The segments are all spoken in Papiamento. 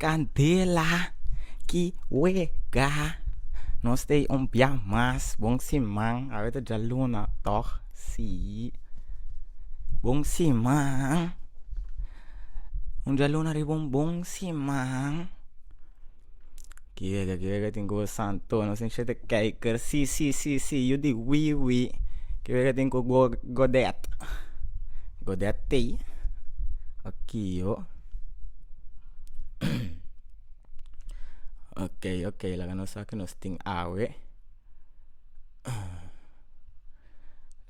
Candela ki wega no stay un bia mas bon siman awe ta djaluna tog si bon siman un djaluna riba un bon siman ki wega ki wega tin kobo santo no sinchè ta kèker si si si si yu di wi wi ki wega tin kobo godet godet tei okiyo. okay okay laga nos sa ke nos tin awe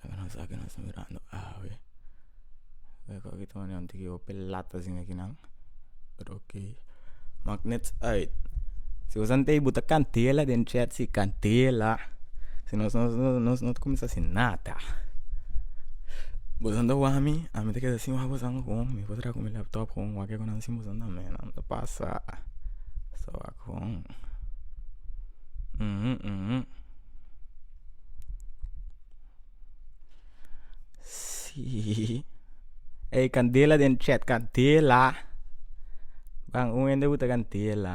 laga nos sa ke nos ta mirando awe hopi latasin akinan pero okay mak net uit si nos antai buta kantela den chet si kantela si nos nos nos no ta kumsa si nada boso anto wami ami ta keda si wak boso. Bon mi por traha cu mi laptop con wak cu nan simbra nan me nan ta pasa so a con si ey candela den chet candela ban un hende hui ta candela.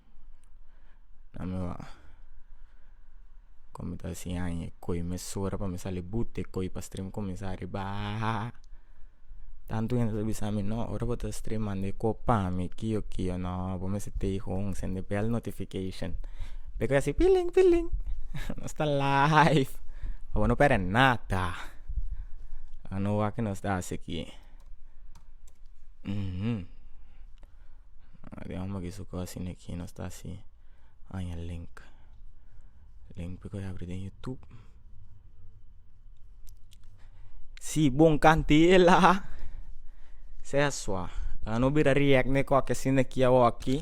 kome ta sin aña e koi me sora pa me sali buta e koi pa stream kuminsá a riba tantu hende ta bisami no ora bo ta stream manda e kop pa mi kio kio no bo mi si tei hon sende bèl notification be koi a si piling piling nos ta live abo no perde nada a no wak nos ta hasi aki. den omba kisu cos asina aki nos ta si aña link link cu bai habri den youtube si bo cantela sea sua pa no bira react ne coki asina aki a oki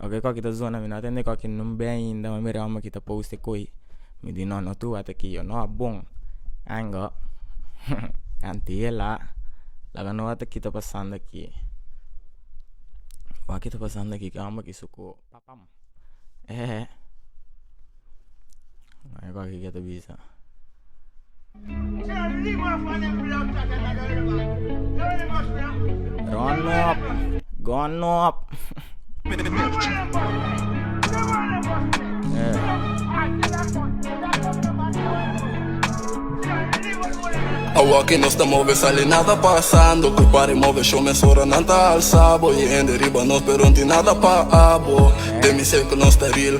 oki coki ta zona mi no a tende coki no ben ainda me bira omba ki ta post e coi. Mi di no no tua ta ki yo no a bon aingo anti e la laga no a ta kita pasando aki bo a kita pasando aki ke homber aki su ku papam e Run op, gun op. Awa que nos ta move sale nada pasando Cu pare move show mes ora nan ta alzabo Y hende riba nos pero nti nada pa abo De mi ser que nos ta real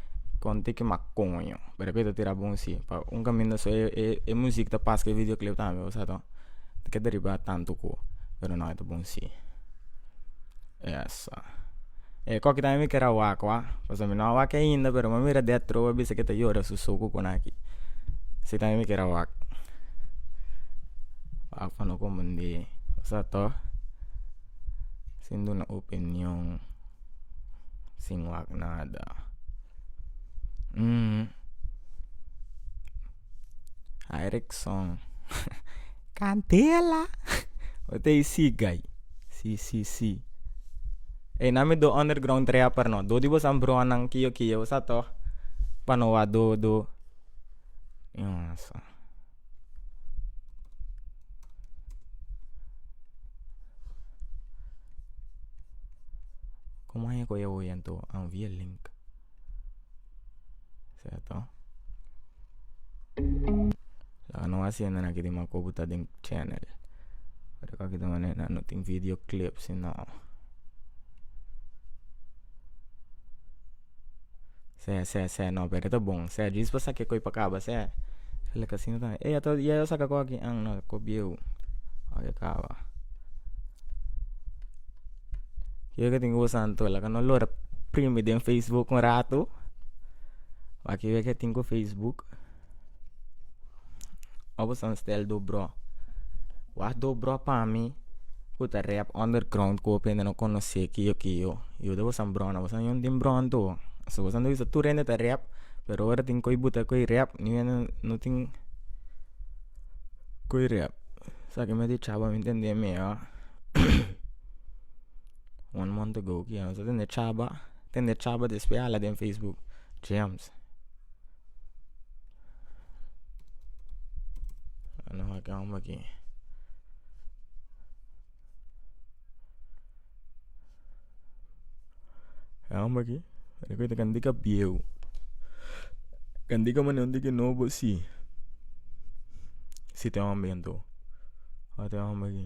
Konte ke makoño pero ke ta tira bon si pa un kaminda so e e e muzik ta pas ke video klip tambe bai sato ta ke deriba tantu ku pero no e ta bon si yesa e koki tambe mi ker a wak wak pasobra mi no a wak ainda pero mi a mira di a trobe a bisa ke ta yora su soku ku na ki si tambe mi ker a wak wak pa no komondi bai sa to sin duna opinion. Sin wak nada. Aerikson candela ot a isi guy si si si ey nan mi do underground trea per no dor di boso a broha nan kio kio sa to pa no wa do do. Como aña cu e oye anto anvia link ceto loke no a siente na kiri mako bo ta den channel ora cu aki ta manera no tin video clip si no. se se se no pero e ta bon se djis pa sa ke koe pa kaba se el a kasi no tan ey ato ya yo saka ko aki an no ko bieu oy a kaba yo ke tin usa anto la ka no lora primi den facebook un ratu aki we ke tin ku facebook. Abo san stèl do brò. Wak do brò pa mi ku ta rèp underground ku hopi hende no konosé kio kio yu dabo san brò na bo san yòn tin brò anto pasobra bo san ta bisa tur hende ta rèp pero ora tin ko'i buta ko'i rèp niu hende no tin ko'i rèp sa ke mi a dichaba a mi ntende mihó one month ago ku yama sa tende chaba tende chaba despe hala den facebook james. kende ta bieu kende ka manera di no bo si si te homber ento a te homber ki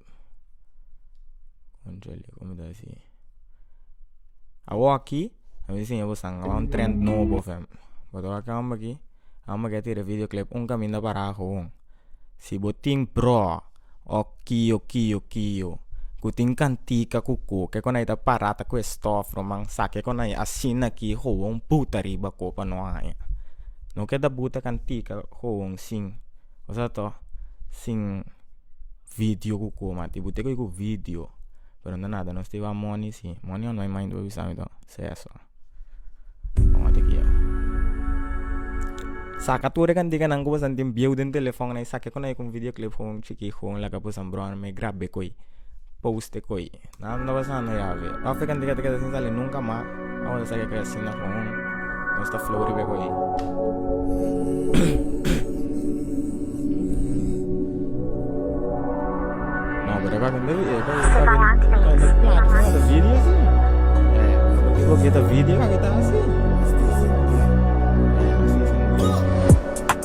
Awoki a misa siña bo san a un trend nobo fem but ora ki amba ki amba ke tira video clip un kaminda pará kogon si bo tin prò òf kio kio kio ku tin kantika ku ko kiko na ta pará ta kue stòf rò man sa kiko na asina ki kogon puta riba ko pa no haña no ke ta buta kantika kogon sin ozata sin. vidio ku kuma tin bo te koe ku vidio pero no nada nos tabata moni si moni o no hay mani bo avisami to sea so saka tur e kantica nan ku bo santi bieu den telefonnan i sake kune ku un vidio clip chikit laka boso bròrnan i grabe koe post koe. Nan ta pasando ya veo africa anto ta keda sin sali nunca mas awor ta saca cresin na con un nos ta flori be cu ey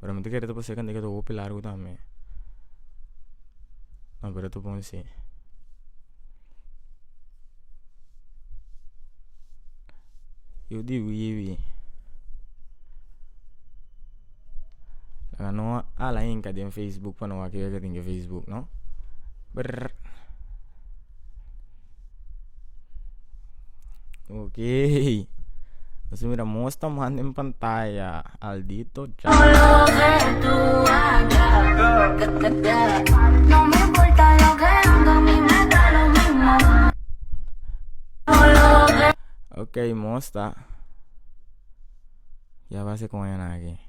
pero mi ta kere ta paseca ta hopi largo tambe lo que ta bon si yo di wiibi a no hala inca den facebook pa no wak kico tin den facebook no brrr. Okey Mester mira mos ta manda en pantaya Aldito Okey mos ta ya base con hen aki.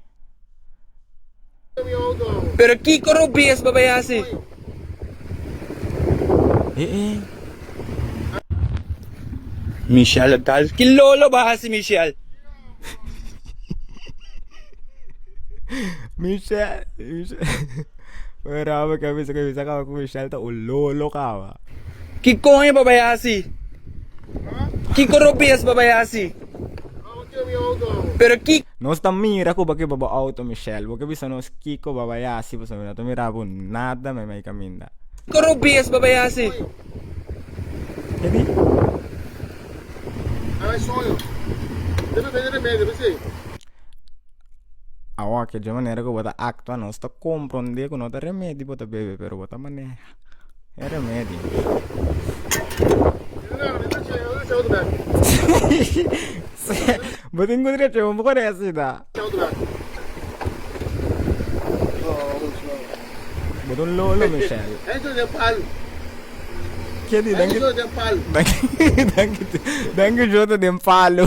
Pero kiko Rubies por bay hasi? Michelle Gal ki lo lo bay hasi Michelle? Ki koño por bay hasi? Kiko Rubies por bay hasi? Pero ki. Nos ta mira cu pakiba bo auto Michelle bo ke bisa nos kico bo a bay haci pasobra mi no ta mira bo nada mey mey caminda. Coro bes bo a bay haci. Ke di? Ay soño. Debe bini remedio, mi sey. awoke dje manera ku bo ta aktua nos ta kompronde ku no ta remedi bo ta bebe pero bo ta maneha e remedi bo tin kudre cheu bo kore asi ta bo ta un lolo michel danki jota den palu.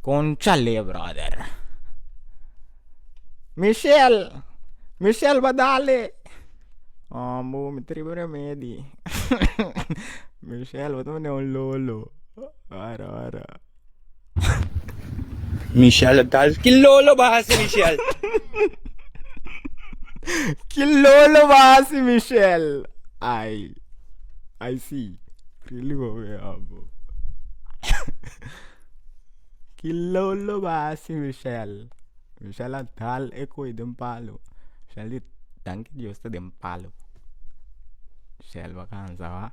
Conchale brother Michelle Michelle ba dale amo mi tribo remedi Michelle bo ta mane un lolo ora ora. Michelle tal. Ki lolo ba hasi Michelle? Ki lolo ba hasi Michelle? Ay. Ay si. Really go be abo. Ki lolo ba hasi Michelle? Michelle a tal e koi den palo. Michelle di danki Dios ta den palo. Michelle ba kansa ba.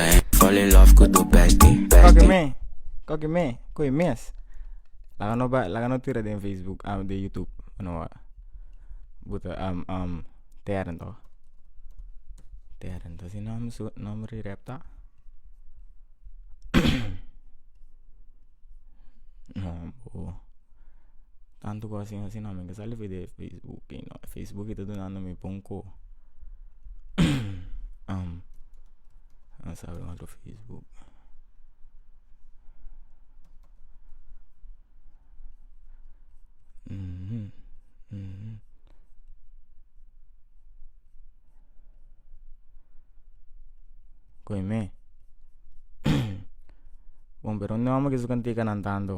Ey, fall in love cu do bestie, bestie. Koki me, koki me, koki mes. Laga no bai, laga no tira den facebook, ah den youtube pa no wak. Buta am am teren to, teren to si nom su nom ri rep ta. Tantu ku asin asin mi ke sa libi di facebook no facebook ta dunandu mi pun ku masa awe otro facebook ku e me bon pero unde amo ke su kantika nan tantu.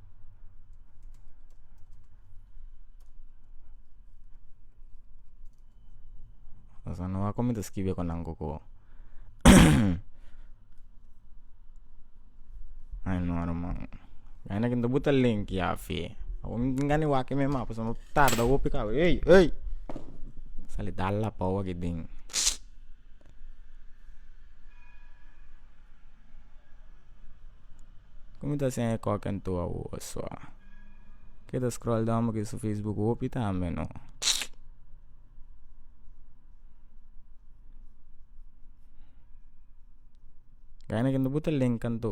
Cosa noa ku mi ta skibi ku nan koko ai no ruman aina ku bo ta lenki afe ngani wak me ma pasobra bo tarda hopi kabe ei ei sali da lapa oki den. Como ta haciendo e coca en tu awoos wa ke ta scroll down pakies su facebook hopi tambe no gana kende bo ta link kantu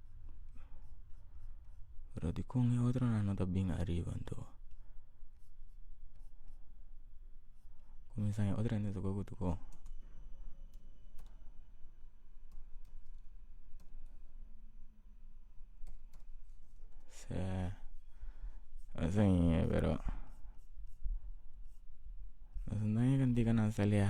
pero di kon e otro nan no ta bin ariba anto kumsa otro hende ta tok kutu kon sea ose ña pero nos andaña kantikan nan salia.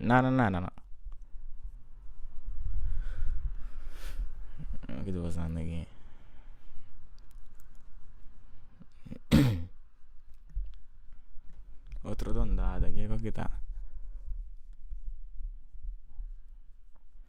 nada nada no ke ta pasando aki otro dondada kico kita.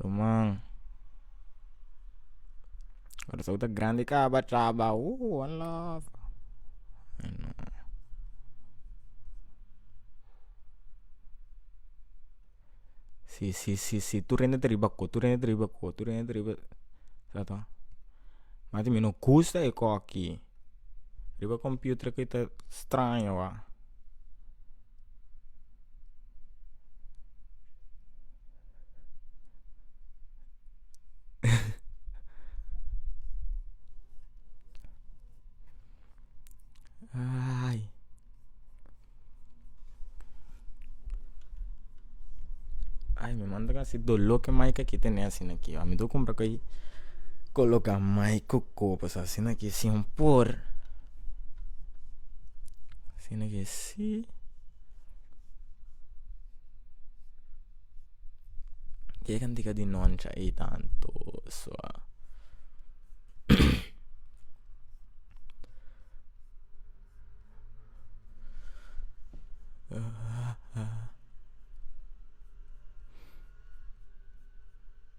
Ruman ora esou ta grandi kaba traba ooh alaf si si si si tur hende ta riba ko tur hende ta riba ko tur hende ta riba ta tong mati mi no kusa e koki riba kompiuter kita straño. ai mi manta kasi dolo ke mai ke kita ne asina ki mi ta kumpra ko'i koloka mai ku kobos asina ki sin por asina kes. Sí. Ke kantika di noncha ei tantu sua.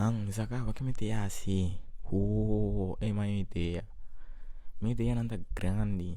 Ang mi sa kaba ke mi te yasi hoo ey mano mi idea mi ideanan ta grandi.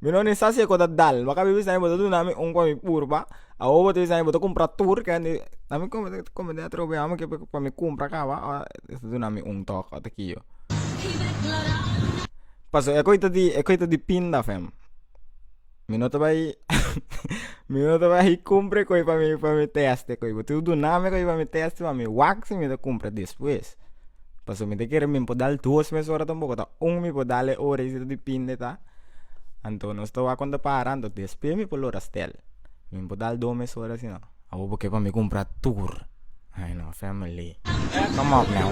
Mi no ni sa si e ku ta dal bo a kabe bisa bo ta duna mi un kopi purba awo bo ta bisa bo ta kumpra tur kendi a mi komo ta komo di atrobiá mi ke pe pa mi kumpra kaba a ta duna mi un tok ota kio pasobra e ku ta di e ku ta di pinda fem mi no ta bai mi no ta bai kumpre kopi pa mi pa mi teste kopi bo tu duna mi kopi pa mi teste pa mi wak si mi ta kumpra despues. pasobra mi ta kere mi por dal dos mes ora tampoco ta un mi por dal e ora y si ta depende ta anto nos ta wak konta para anto despues mi por lo restel mi por dal dos mes ora si no awo bo ke pa mi compra tur hay no family komop nao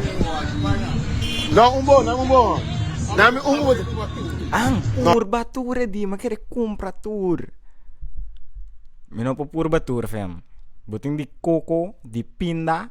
an purba tur e dia mi a kere compra tur mi no por purba tur fam bo tin di coco di pinda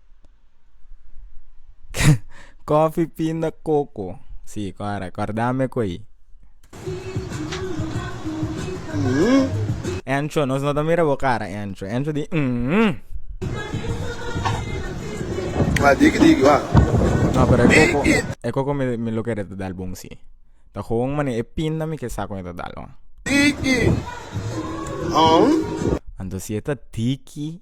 Coffee pinda coco si cora cordame cu ayi. Encho nos no ta mira bo cara encho encho di umm. Wa digi digi wa. No pero e coco e coco mi mi lo kere ta dal bon si ta gewoon mane e pinda mi ke sa con e ta dal wan. Anto si e ta tiki.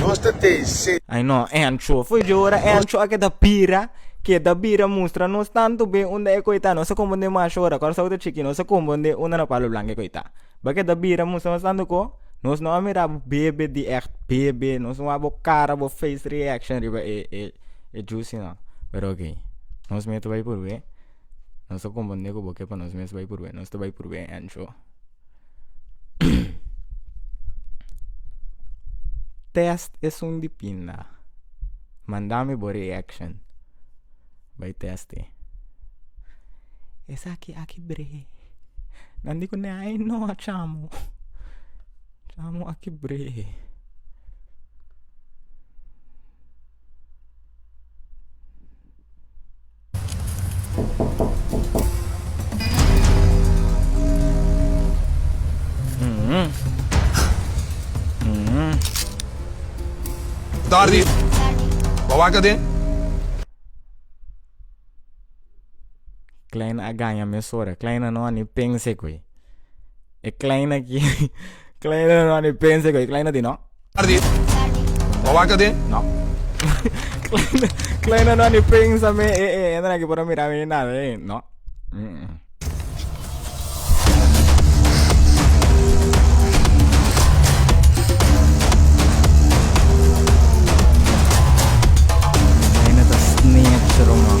Nos ta tei se. Ai no, e ancho foi dje ora, e ancho a keda bira, keda bira mustra nos tantu be unda e koita nos a kombondé masha ora Kòrsou ta chiki nos a kombondé unda na Palo Blanke koita ba keda bira mustra nos tantu ko nos no a mira bo bebe di ègt bebe nos no wou a bo kara bo face reaction riba e e e jusi no pero ok nos mey ta bai por wè. nos ta konfunde ku bo ke pa nos mes bai purbe nos ta bai purbe ancho test esun di pinda mandami bo reaction bai testi esaki aki bre nan di ku ne ai no a chamu chamu aki bre Tardi. Bo a waka den? Kleine a gaña mesora. Kleine no a ni pensa e koe. E kleine aki kleine no ani pensa ku e kleine di no. Ardi. Wa waka den? No. kleine kleine no ani pensa me e e e na ki por mira mi na e no. Kleine ta snitch roman.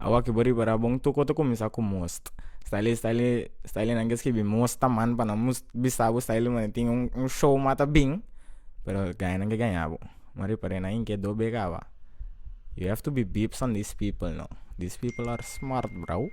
Awor ke bo riba ra bon toko ta cuminsa cu most style style style nan ke skibi most taman panan mus bisa bo style man tin un un show ma ta bin pero gana nan ke gana bo ma repare nan ke do be kaba you have to be big son this people no this people are smart bro.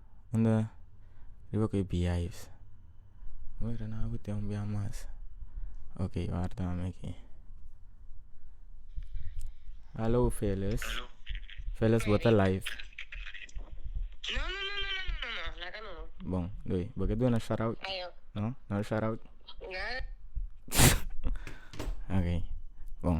unda riba ku e biais ora nan abu ten un bia mas ok warda nan aki alo felis felis bo ta live bon oye bo ke duna shatout no no shatout ok bon.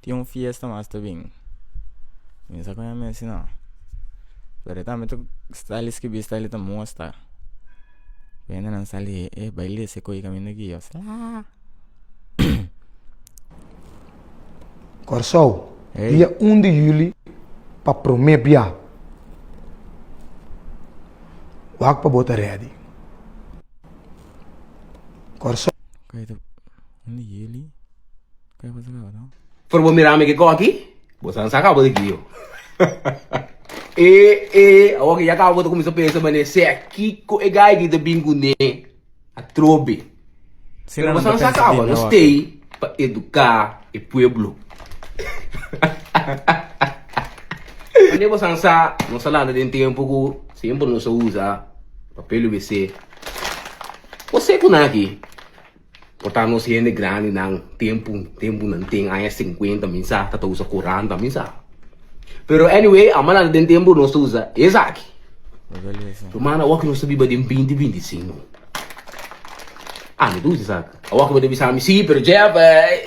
Tin un fiesta mas ta bin mi no sa kon a mesti no pero e tambe ta style skibi style ta musta ku hendenan sali e baile ese koe kaminda aki yo se haa Kòrsou dia un di yuli pa promé bia wak pa bo ta rèdi Kòrsou. Pero bo mirami ke koki bo san saka bo de gio eh eh awo ke ya kaba bo ta kuminsa pensa manera se a kiko e gai di ta bin ku ne atrobe pero bo san saka bo no stay pa educa e pueblo manera bo san sa nos a lanta den tempo ku semper nos a usa papel wc bo se ku na aki. Por ta nos hende grandinan tempu tempunan ten aña sinkuenta mi sa ta ta usa kuranta mi sa pero anyway a manan den tempu nos ta usa esaki ruman awor ku nos ta biba den binti binti i sinku a mi ta usa esaki awor ku bo ta bisa mi si pero Jeff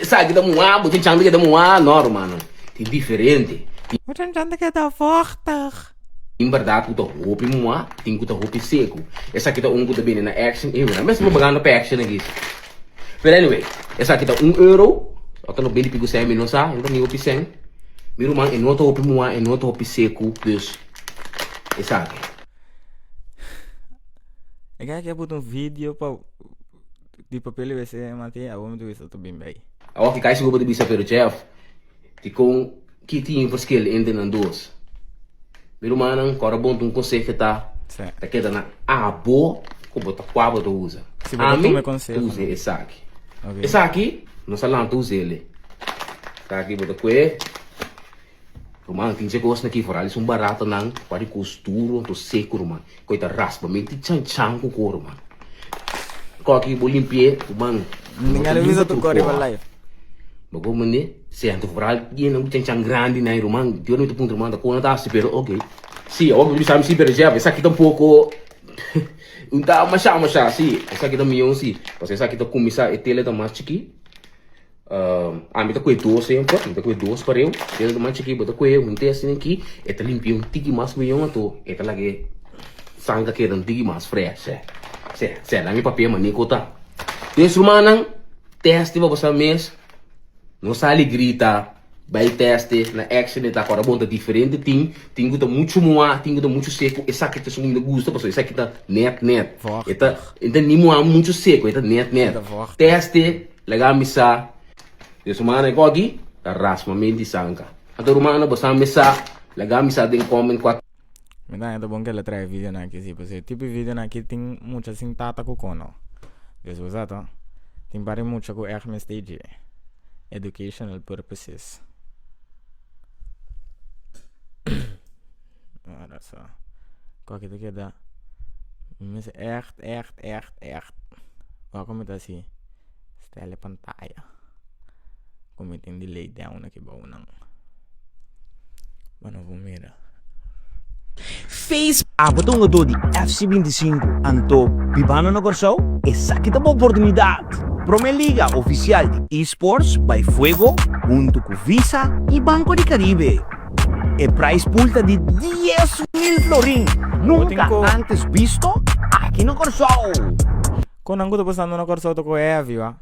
esaki ta muha bo chan chan ta keda muha no rumannan tin diferente tin. Bo chan chan ta keda vochtig. Tin berdad cu ta hopi mua, tin cu ta hopi secu. Esaki ta un cu ta bini na action y nan mester propaganda pa action aki. Pero anyway, esaki ta un euro, ota no bini pico cen, mi no sa, no ta ni hopi cen. Mi ruman, e no ta hopi mua, e no ta hopi secu, dus esaki. E gaya ki a putu un video pa di papel di wc, mati, awor mi ta wisa ota bin bay. Awor ki kai sigur pa ta bisa, pero chef, dicon. Ki tin e verschil entre nan dos? Mi rumannan, ku ora bo ta un konseho ta ta keda na abo ku bo ta kua bo ta usa. Ami ta usa esaki. Esaki nos a lanta usa el e. Esaki bo ta kue. Ruman tin si e kos na ki for al es un baratanan ku a di kos duru anto seku ruman. Cu e ta raspa mi tin chan chan cu coro mano. Coki bo limpi'e tu man. Limpi'e tu limpa tur coa. Bo go mende sea anto foral yena un chan chan grandi na e ruman. Dios no mi ta puntra manda con no ta hasi pero ok. Si awor bo bisa mi si pero Jeff esaki ta un poco un ta masha masha si. Esaki ta miyon si. Pasobra esaki ta cuminsa e tele ta mas chiki. Ami ta koe dos semper, mi ta koe dos pareu, kende ta masha ki bo ta koe un te asina aki, e ta limpia un tiki mas miyon ato, e ta laga e sangha keda un tiki mas freshe, se se nan e papia manico ta. Mes rumannan, testi pa bo sa mes, no sali grita, bai testi na action e ta kora bon, ta diferente tin, tin ku ta muchu muha, tin ku ta muchu seku, esaki ta esun ku mi ta gusta, pasobra esaki ta net net, e ta e ta ni muha muchu seku, e ta net net, testi. Laga mi sa, den sumana e gogi ta rasma mi di sanka. Ato rumano bo sa mi sa, laga mi sa den comen cua. Mi ta heta bon kela trae video nan aki si pasobra e tipo di video nan aki tin mucha sin tata cu cono dus bo sa to tin par e mucha cu echt mester dje educational purposes. Ora so koke ta keda mi mester echt echt echt echt oko mi ta si stel e pantaya ku mi tin di lei den una ki bounan bo no por mira. Abo ta un hogador di FC binti sinku anto bibando na Kòrsou? Esaki ta bo oportunidat! Promé liga ofisial di eSports bai fuego huntu ku Visa i Banko di Karibe. E price pool ta di dies mil florin, nunca antes visto aki na Corsou! Con nan cu ta pasando na Corsou ta cu heavy wa.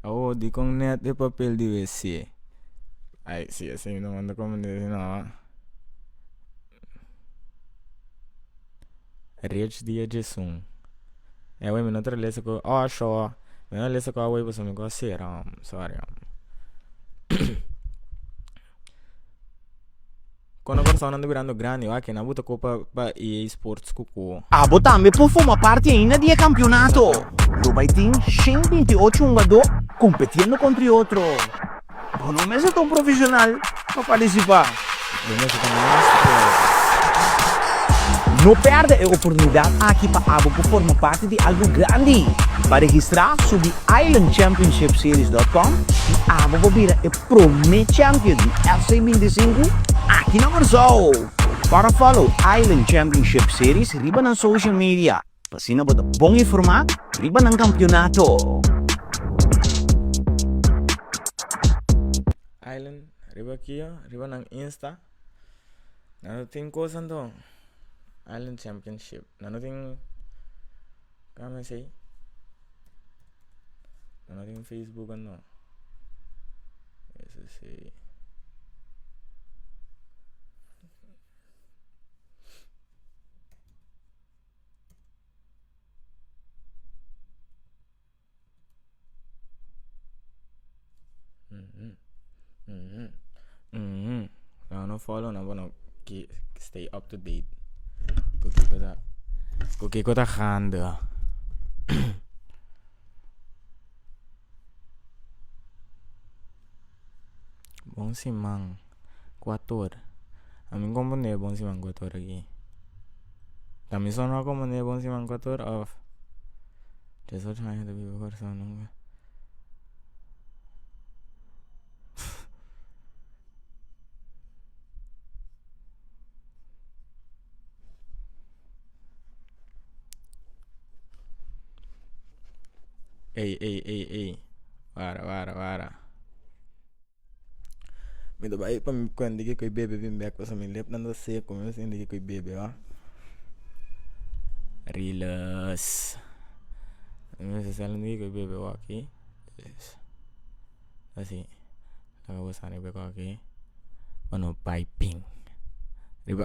Awo dicon net e papel di WC. Ay si así mi ta manda come di asina ho. Rechi dia djesun away mi no ta lesa cu osh ho mi no ta lesa cu away pasobra mi cu a cera ho sorry ho. Kono kòrsonan ta birando grandi wak nan bo ta ko pa pa EA Sports ku ko. Abo tambe por forma parti ainda di e kampionato. Lo bai tin shen binti i ocho hungadó kompetiendo kontra e otro. Bo no mester ta un profeshonal pa partisipá. Bo mester ta mas fuerte. No pèrdè e oportunidat aki pa abo por forma parti di algu grandi. Pa registrá, subi islandchampionshipseries.com i abo por bira e. Prome champion di FC bintisinku aki na Kòrsou. Para fòlo Island Championship Series riba nan social media pa asina bo ta bon informá riba nan kampionato. Island riba kio riba nan insta. nan no tin cosa anto island championship nan no tin ka mi si nan no tin facebook anto eso si Nan no follow no bo no ke stay up to date ku kiko ta ku kiko ta hende bon siman. ku ator a mi kompone e bon siman ku ator aki tamiso no a kompone e bon siman ku ator of tres ocho años de vivo por esun nunca ey ey ey ey wara wara wara. Mi ta bai pa mi kuent di kiko i bebe bin bek pasobra mi lep tanta seco mi no sin di kiko i bebe oa riles mi no sin sabi di kiko i bebe oa aki asi a gosa a riba e koko aki pa no bai ping riba.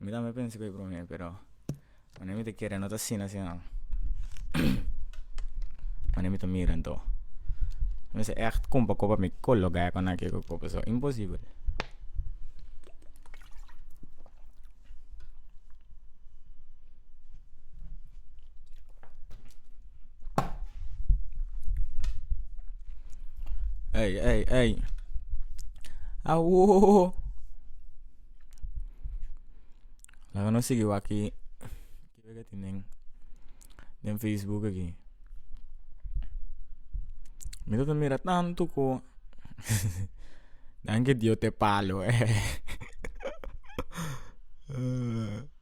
mi tambe a pensa cu e prome pero cuando mi ta kere no ta asina si no cuando mi ta mira anto mester echt compra coba mi colo gaya cu naki cu coba so imposible ey ey ey awohohoho. laga nos sigui waki kico ta tin den facebook aki me ta mira tantu ku nan ke dio te palo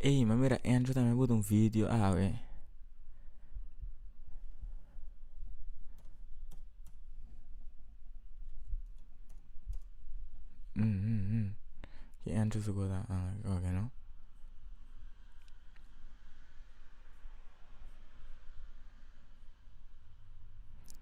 Ey m'a mira Andrew tambe but un video awe ki Andrew su cosa oke no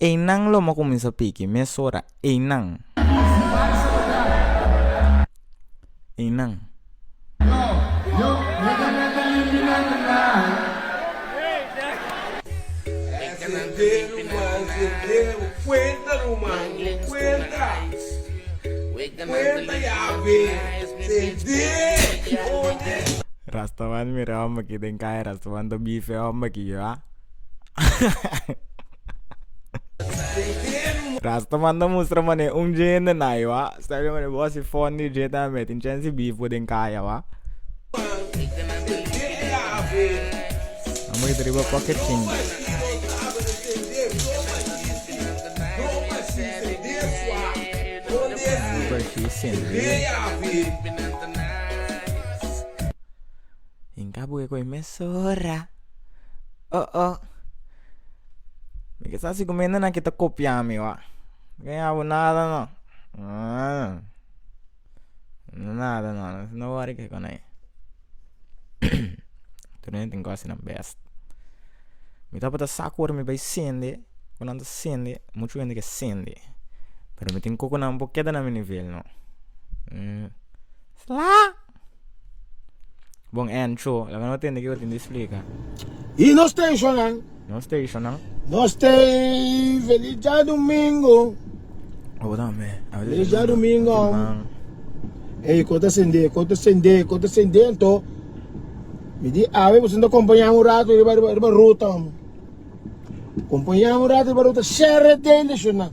Einan lo mo kuminsá piki mesora einan. Einan. Rastaman mira homber aki den kaya rastaman ta bife homber aki yo a. Rasta manda mustra mane un dje hende na i wa Stel yo mane bos i fondi dje ta me tin chens di bifbo den kaya wa Amo yeta riba koke chin Super chi sin hinka bu koe mes ora oh-oh mi ke sa si ku mende nan ke ta kopia mi wak no ke yabu nada no nada no si no wòrdu ke kònai tur hende tin kos asina bèst mi tabatin ta sa ku ora mi bai sende ku nan ta sende muchu hende ke sende pero mi tin koko nan bo keda na mi nivel no. Bon en cho la bo no tende kiko tin di splika. I nos stationnan? No stationnan? No stay feliz ja domingo. Obo dan me. Feliz ja domingo. Ei kota sende kota sende kota sende ento mi di awe bo sento acompaña un rato riba riba riba ruta acompaña un rato riba ruta share de stationnan.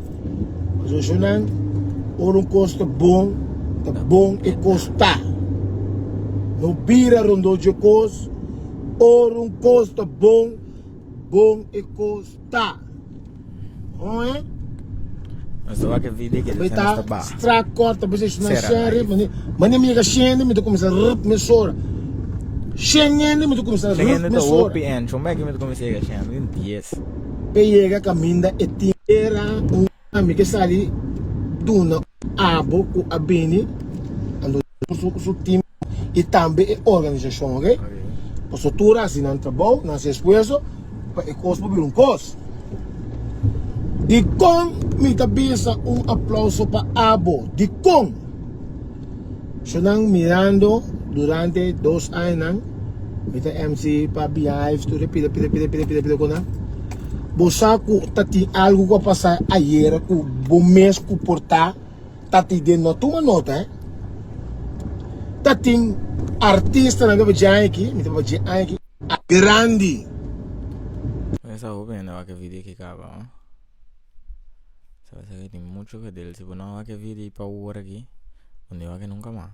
Zoso nan, ora un kos ta bon, ta bon e kos ta. No bira rondó dje kos, ora un kos ta bon, bon e kos ta. Oe? Nos ta wak e video ki Tabata nos ta ba. straat kort, tabata e suna Sera, shen ai. rip. Mani, mani mi yega shen di mi ta kuminsá rip mi sora. Shen yen di mi ta kuminsá Shen rip hende mi ta sora. hopi en. Shon bek mi ta kuminsá yega shen, tin dies. pe yega caminda e tin. Era un ami ke sali duna un abo cu a bini cu su team y tambe e organisacion ok pasobra tur haci nan trabao nan haci esfuerzo pa e cos por bira un cos dicon mi ta bisa un aplauso pa abo dicon. So nan mirando durante dos añanan mi ta MC pa Beehive tur e pida pida pida pida pida pida ku nan bo sa ku ta tin algu ku a pasa ayera ku bo mes ku por ta tati den no tuma nota ta tin artistanan ku a bira djai aki mi ta bira djai aki a grandi. tin mucho ke del si bo no wak e video i pa hora aki bo no e wak nunka mas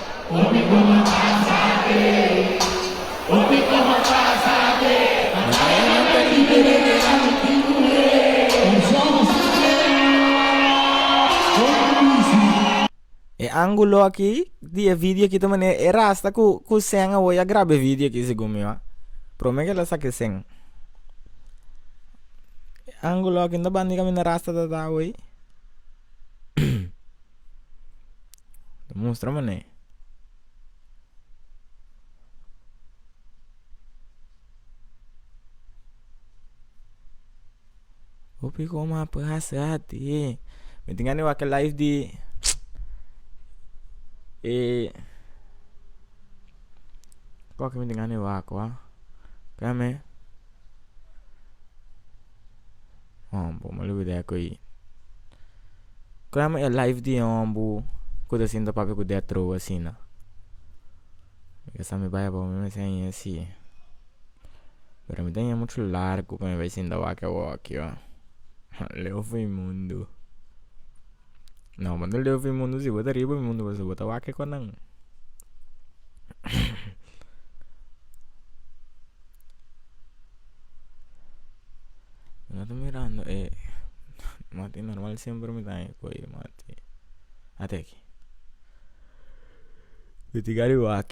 E angulo aki di e video aki ta manera e rasta ku ku sèn awor ya graba e video aki segun mi a prome kila saki e sèn e angulo aki no ta bandi kaminda rasta ta ta awor. ta mustra manera hopi coma a pasa ati mi tin gana di wak e live di e cual mi tin gana di wak wak hon bo me lubida ya ko'i kon llama e life di e hon bu ku ta sinta papia ku dea trow asina mi sa mi bai abao mi mester a ña si pero mi ta ña muchu largu pa mi bai sinta wak awor aki ho leo fo e mundu. no manda leu pi mundu si bo ta riba mundu pasobra bo ta wak ekor nan no ta mirando e mati normal semper mi ta ko e mati ate aki mi ti gari wak.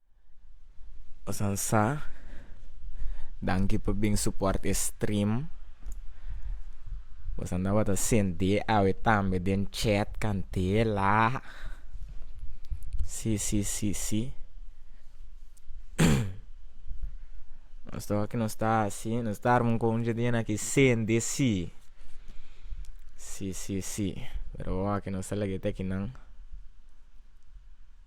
Pasan sa danki pa bin suport e stream pasan tabata senti e awe tambe den chat cantela si si si si nos ta oki nos ta hasi nos ta arma un concha di nan ki sende si si si si pero oki nos ta lagete kinan.